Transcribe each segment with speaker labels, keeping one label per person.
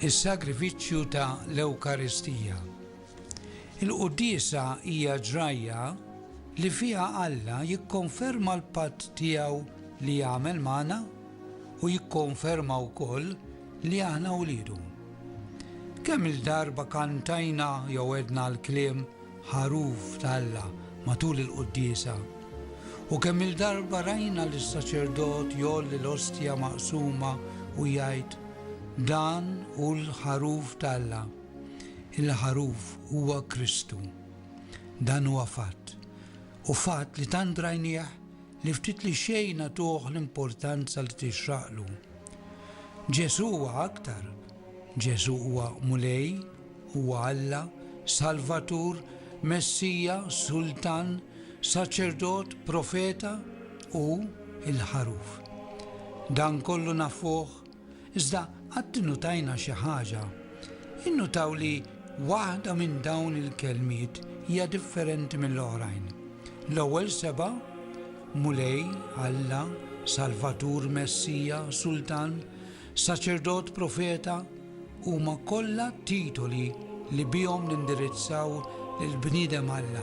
Speaker 1: is-sagrifiċċju ta' l-Ewkaristija. Il-quddiesa hija ġrajja li fiha Alla jikkonferma l-patt tiegħu li jagħmel magħna u jikkonferma wkoll Li aħna wliedu. Kemm-il darba kantajna jew għedna l-kliem ħaruf t'Alla matul il-quddiesa, u kemm-il darba rajna lis-saċerdot jgħolli l-ostja maqsuma u jgħid, Dan hu l-ħaruf t'Alla. Il-ħaruf huwa Kristu. Dan huwa fatt, u fatt li tant rajnieh li ftit li xejn nagħtuh l-importanza li tixraqlu. Ġesù huwa aktar. Ġesù huwa Mulej, huwa Alla, Salvatur, Messija, Sultan, Saċerdot, Profeta u l-Ħaruf. Dan kollu nafuh Iżda qatt innutajna xi ħaġa? Innutaw li waħda minn dawn il-kelmiet hija differenti mill-oħrajn? L-ewwel sebgħa, Mulej, Alla, Salvatur, Messija, Sultan, Saċerdot, Profeta, huma kollha titoli li bihom nindirizzaw lill-bniedem Alla.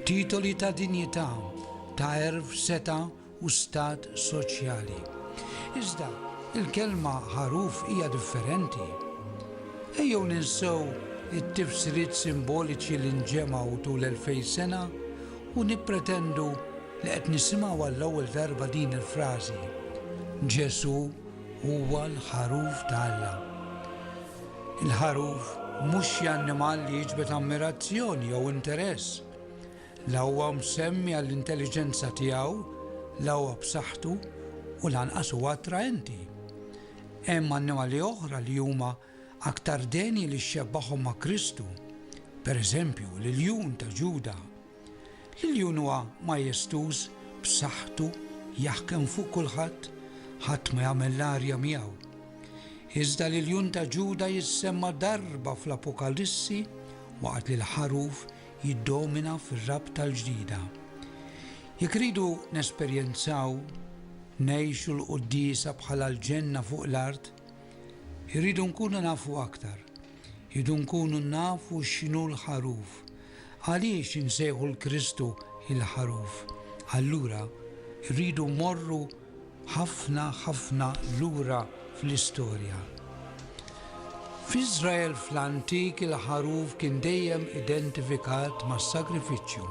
Speaker 1: Titoli ta' dinjità, ta' għerf, setgħa, u stat soċjali. Iżda, il-kelma ħaruf hija differenti. Ejjew ninsew it-tifsiriet simboliċi li nġemgħu tul elfej sena u nippretendu li qed nisimgħu għall-ewwel darba din il-frażi, Ġesù huwa l-Ħaruf ta' Alla. Il-ħaruf mhux xi annimal li jiġbed ammirazzjoni jew interess. La huwa msemmi għall-intelliġenza tiegħu, la huwa b'saħħtu u lanqas huwa attraenti. Hemm annimali oħra li huma aktar denji li xxebbahom ma' Kristu, per eżempju, l-iljun ta' Ġuda. L-iljun huwa majestuż, b'saħħtu, jaħkem fuq kulħadd, ħadd ma jagħmel l-arja miegħu. Iżda l-iljun ta' Ġuda jissemma darba fl-Apokalissi waqt li l-ħaruf jiddomina fir-rabta l-ġdida. Jekk irridu nesperjenzaw, ngħixu l-Quddiesa bħala l-ġenna fuq l-art, irridu nkunu nafu aktar. Irridu nkunu nafu x'inhu l-Ħaruf. Għaliex insejħu 'l Kristu il-Ħaruf? Allura, irridu mmorru ħafna, ħafna lura fl-istorja. F'Iżrael fl-antik il-ħaruf kien dejjem identifikat mas-sagrifiċċju.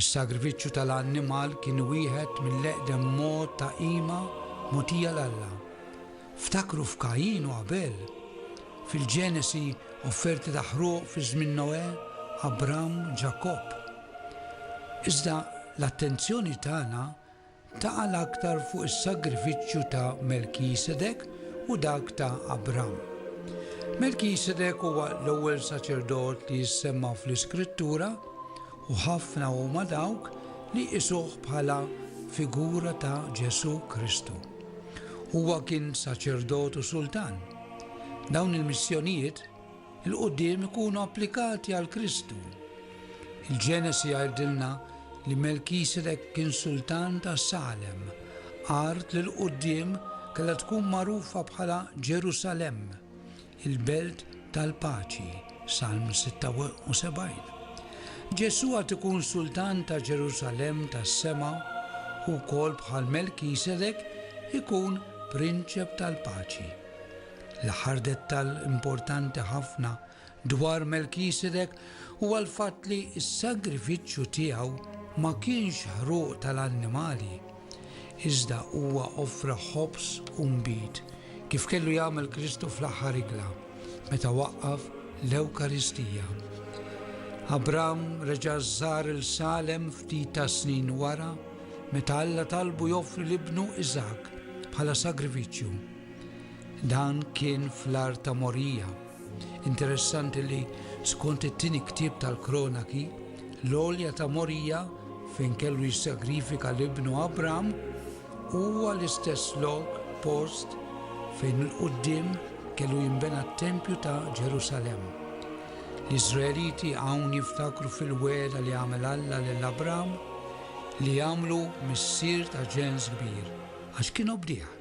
Speaker 1: Is-sagrifiċċju tal-annimal kien wieħed mill-eqdem mod ta' qima mogħtija 'l Alla. Ftakru f'Kajin u Abel. Fil-Ġenesi, offerti ta' ħruq fi żmien Noè, Abram, Ġakobb. Iżda l-attenzjoni tagħna taqa' l-aktar fuq is-sagrifiċċju ta' Melkisedek u dak ta' Abram. Melkisedek huwa l-ewwel saċerdot li jissemma fl-Iskrittura u ħafna huma dawk li jqisuh bħala figura ta' Ġesù Kristu. Huwa kien saċerdot u sultan. Dawn il-missjonijiet 'l quddiem ikunu applikati għal Kristu. Il-Ġenesi jgħidilna li Melkisedek kien sultan ta' Salem, art li 'l quddiem kellha tkun magħrufa bħala Ġerusalemm, il-belt tal-paċi, Salm 76. Ġesù għad ikun sultan ta' Ġerusalemm tas-sema u wkoll bħal Melkisedek ikun prinċep tal-paċi. L-aħħar dettall importanti ħafna dwar Melkisedek huwa l-fatt li s-sagrifiċċju tiegħu ma kienx ħruq tal-annimali, iżda huwa offra ħobż u nbid, kif kellu jagħmel Kristu fl-aħħar ikla, meta waqqaf l-Ewkaristija. Abram reġa' żar il-Salem ftit tas-snin wara, meta Alla talbu joffri l-ibnu Iżakk bħala sagrifiċċju. Dan kien fl-art ta' Morija. Interessanti li, skont it-tieni ktieb tal-Kronaki, l-għolja ta' Morija fejn kellu jissagrifika l-ibnu Abram huwa l-istess lok, post, fejn 'il quddiem kellu jinbena t-tempju ta' Ġerusalemm. L-Iżraeliti hawn jiftakru fil-wegħda li għamel Alla lil Abram li jagħmlu missier ta' ġens kbir, għax kien obdih.